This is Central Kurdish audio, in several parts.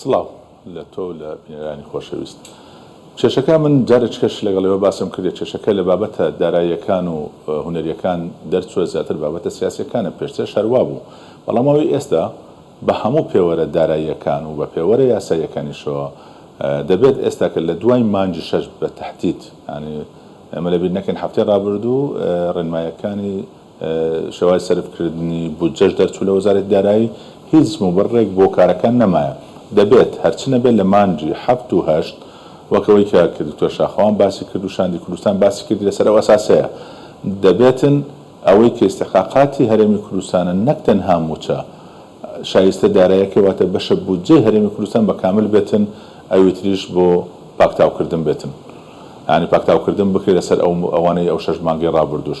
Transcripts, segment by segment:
سڵاو لە تۆ و لە بینەرانی خۆشەویست. کێشەکە من جارێچکەش لەگەڵ ئێوە باسم کردیە کێشەکە لە بابەتە داراییەکان و هونەریەکان دەرچوە زیاتر بابەتە سیاسیەکانە پێشترش هەر وابوو بەڵام ئەوەی ئێستا بە هەموو پێوەرە داراییەکان و بە پێوەرە یاساییەکانیشەوە دەبێت ئێستا کە لە دوای مانگی شەش بە تەحدید یانی ئێمە لەبیر نەکەین هەفتەی ڕابردوو ڕێنمایەکانی شێوازی سەرفکردنی بودجەش دەرچوو لە وەزارەتی دارایی، هیچ موبڕێک بۆ کارەکان نەمایە. دەبێت هەرچی نەبێت لە مانگی حەفت و هەشت، وەک ئەوەی کە کە دکتۆر شاخەوان باسی کرد و شاندی کوردستان باسی کردی لەسەر ئەو ئەساسەیە دەبێتن ئەوەی کە ئیستحقاقاتی هەرێمی کوردستانە نەک تەنها موچە شایستە دارایەکەی واتە بەشە بودجەی هەرێمی کوردستان بە کامل بێتن ئەوی تریش بۆ پاکتاوکردن بێتن یانی پاکتاوکردن بکرێت لەسەر ئەو ئەوانەی ئەو شەش مانگەی ڕابردووش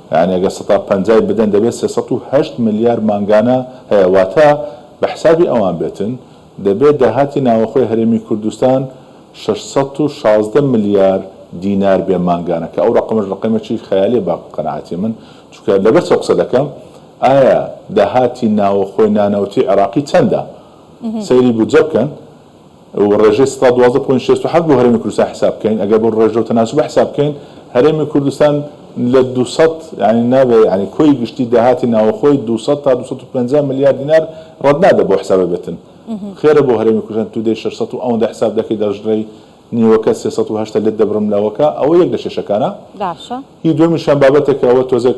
یانی ئەگەر سەتا پەنجای بدەن دەبێت سێ سەد و هەشت ملیار مانگانە هەیە واتە بە حسابی ئەوان بێتن دەبێت داهاتی ناوەخۆی هەرێمی کوردستان شەش سەد و شازدە ملیار دینار بێ مانگانە کە ئەو رەقەمەش رەقەمێکی خەیالیە بە قەناعەتی من چونکە لەبەر چەو قسە دەکەم ئایا داهاتی ناوەخۆی نانەوتی عێراقی چەندە سەیری بودجە بکەن و ڕێژەی سەدا دوازدە پۆینت شەست و حەفت بۆ هەرێمی کوردستان حیساب بکەین ئەگەر بەو ڕێژە و تەناسوبە حیساب بکەین هەرێمی کوردستان لە دوو سەد یانی نابێ یانی کۆی گشتی داهاتی ناوەخۆی دوو سەد تا دوو سەد و پەنجا ملیار دینار ڕەت نابێ بەو حیسابە بێتن خێرە بۆ هەرێمی کوردستان تو دەی شەش سەد و ئەوەندە حیساب دەکەی دەڕژرێی نیوەکە سێ سەد و هەشتا لێت دەبرم لەوەکە ئەوە یەک لە کێشەکانە هی دوەمیشیان بابەتێکە ئەوە تۆزێک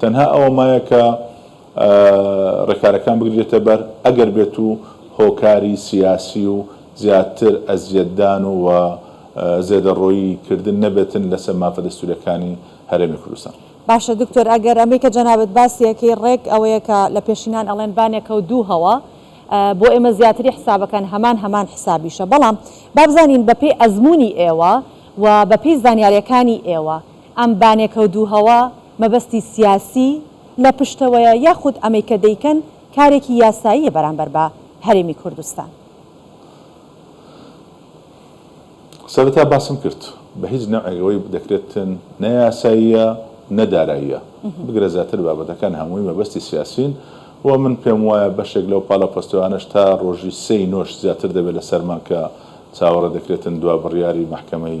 تەنها ئەوە مایە کە ڕێکارەکان بگریرێتە بەر ئەگەر بێت و هۆکاری سیاسی و زیاتر ئەزیەتدان و و زێدەڕۆیی کردن نەبێتن لەسەر مافە دەستوریەکانی هەرێمی کوردستان. باشە دکتۆر ئەگەر ئەمەی کە جەنابت باسی ئەکەی ڕێک ئەوەیە کە لە پێشینان ئەڵێن بانێکە و دوو هەوا بۆ ئێمە زیاتری حسابەکان هەمان هەمان حسابیشە بەڵام با بزانین بە پێی ئەزموونی ئێوە و بە پێی زانیاریەکانی ئێوە ئەم بانێکە و دوو هەوا مەبەستی سیاسی لە پشتەوەیە یاخود ئەمەی کە دەیکەن کارێکی یاساییە بەرامبەر بە هەرێمی کوردستان؟ سەرەتا باسم کرد بە هیچ نەوعێک ئەوەی دەکرێتن نە یاساییە نە داراییە بگرە زیاتر بابەتەکان هەمووی مەبەستی سیاسین و من پێم وایە بەشێک لەو پاڵە پۆستەوانەش تا ڕۆژی سێی نۆش زیاتر دەبێت لەسەرمان کە چاوەڕێ دەکرێتن دوا بڕیاری مەحکەمەی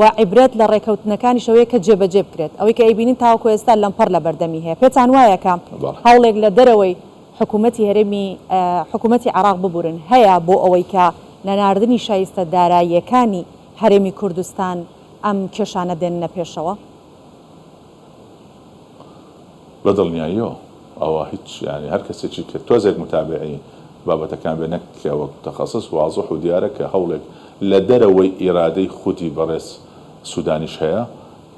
وە عیبرەت لە ڕێکەوتنەکانیش ئەوەیە کە جێبەجێ بکرێت. ئەوەی کە ئەیبینین تاوەکو ئێستا لەمپەڕ لە بەردەمی هەیە. پێتان وایە کە هەوڵێک لە دەرەوەی حکوومەتی هەرێمی حکوومەتی عێراق ببورن هەیە بۆ ئەوەی کە نەناردنی شایستە داراییەکانی هەرێمی کوردستان ئەم کێشانە بێننە پێشەوە؟ بە دڵنیاییەوە ئەوە هیچ یانی هەر کەسێکی کە تۆزێک موتابیعی بابەتەکان بێت نەک کە وەک موتەخەسس وازح و دیارە کە هەوڵێک لە دەرەوەی ئیرادەی خودی بەڕێز سودانیش هەیە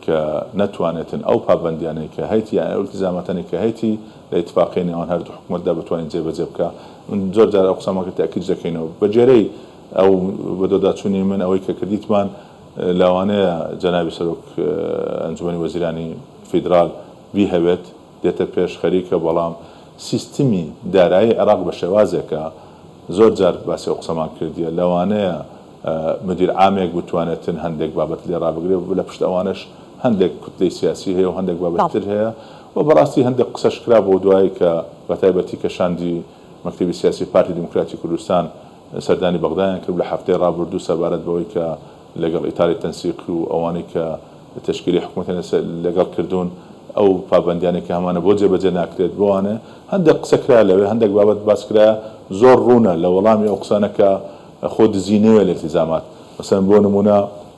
کە نەتوانێتن ئەو پابەندیانەی کە هەیەتی یان ئەو ئیلتیزاماتانەی کە هەیەتی لە ئیتفاقیەی نێوان هەردوو حکومەتدا بتوانێت جێ بەجێ بکا من زۆر جار ئەو قسەمە تەئکیدش دەکەینەوە بە گوێرەی ئەو بەدواداچونی من ئەوەی کە کردیتمان لەوانەیە جەنابی سەرۆک ئەنجومەنی وەزیرانی فیدرال بیهەوێت دێتە پێش خەریکە بەڵام سیستمی دارایی عێراق بە شێوازێکە زۆر جار باسی ئەو قسەمان کردیە لەوانەیە مدیر عامێک بتوانێتن هەندێک بابەت لێ ڕابگرێ لە پشت ئەوانەش هەندێک کوتلەی سیاسی هەیە و هەندێک بابەتی تر هەیە و بەڕاستی هەندێک قسەش کرابوو دوایی کە بە تایبەتی کە شاندی مەکتەبی سیاسی پارتی دیموکراتی کوردستان سەردانی بەغدایان کرد لە هەفتەی ڕابردوو سەبارەت بەوەی کە لەگەڵ ئیتاڵی تەنسیق و ئەوانەی کە تەشکیلی حکومەتیان لەگەڵ کردوون ئەو پابەندیانەی کە هەمانە بۆ جێبەجێ ناکرێت بەوانە هەندێک قسە کرا لەوێ هەندێک بابەت باس کرا زۆر ڕوونە لە وەڵامی ئەو قسانە کە خۆ دزی نەوێ لە ئیلتیزامات مەسەلەن بۆ نموونە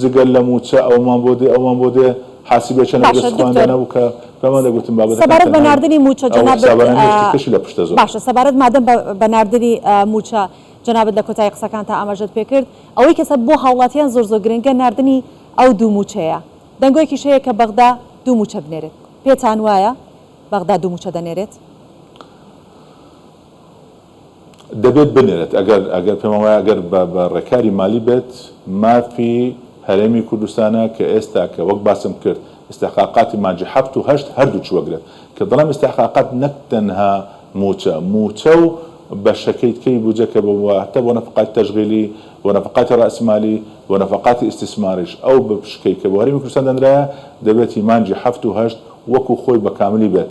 جگە لە مووچە ئەوەمان بۆ دێ ئەوەمان بۆ دێ حاسیبێ چەنە باشە دەست خۆیان دکتۆر دانابوو کە پێمان دەگوتن بابەتەکان سەبارەت بە تەنها ناردنی مووچە ئەو جەنابت حسابانە نییە شتی ترشی لە پشتە زۆر. باشە سەبارەت مادەم بە بە ناردنی مووچە جەنابت لە کۆتایی قسەکانتا ئاماژەت پێ کرد ئەوەی کە سە بۆ هاوڵاتیان زۆر زۆر گرنگە ناردنی ئەو دوو مووچەیە دەنگۆیەکیش هەیە کە بەغدا دوو مووچە بنێرێت پێتان وایە بەغدا دوو مووچە دەنێرێت؟ دەبێت بنێرێت ئەگەر ئەگەر پێمان وایە ئەگەر بە بە ڕێکاری مالی بێت مافی هەرێمی کوردستانە کە ئێستا کە وەک باسم کرد ئیستحقاقاتی مانگی حەفت و هەشت هەردووکی وەگرێت کە دەڵێم ئیستحقاقات نەک تەنها مووچە مووچە و بەشەکەی تکەی بودجە کە بە واتە بۆ نەفقاتی تەشغیلی بۆ نەفقاتی ڕاسمالی بۆ نەفقاتی ئیستیسماریش ئەو بە پشکەی کە بۆ هەرێمی کوردستان دەنرایە دەبێتی مانگی حەفت و هەشت وەکو خۆی بە کاملی بێت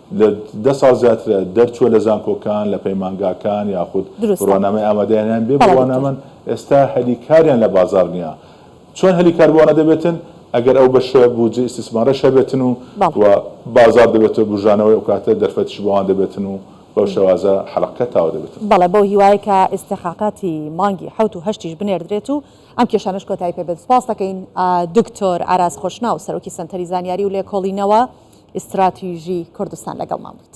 لە دە ساڵ زیاترە دەرچووە لە زانکۆکان، لە پەیمانگاکان یاخود دروستە بڕوانامەی ئامادەیانیان بێ بەڵێ دکتۆر. بڕوانامەن، ئێستا هەلی کاریان لە بازاڕ نییە. چۆن هەلی کار بۆ ئەوانە دەبێتن؟ ئەگەر ئەو بەشە بودجەی ئیستیسمارەش هەبێتن و بەڵێ. و بازاڕ دەبێتە بوژانەوەی ئەو کاتە دەرفەتیش بۆ ئەوان دەبێتن و بەو شێوازە حەلەقەکە تاو دەبێتن. بەڵێ بەو هیوایە کە ئیستحقاقاتی مانگی حەوت و هەشتیش بنێردرێت و ئەم کێشانەش کۆتایی پێ بێت. سپاست دەکەین دکتۆر ئاراس خۆشناو، سەرۆکی سەنتەری زانیاری و لێکۆڵینەوە ئیستراتیژی کوردستان لەگەڵمان بوویت.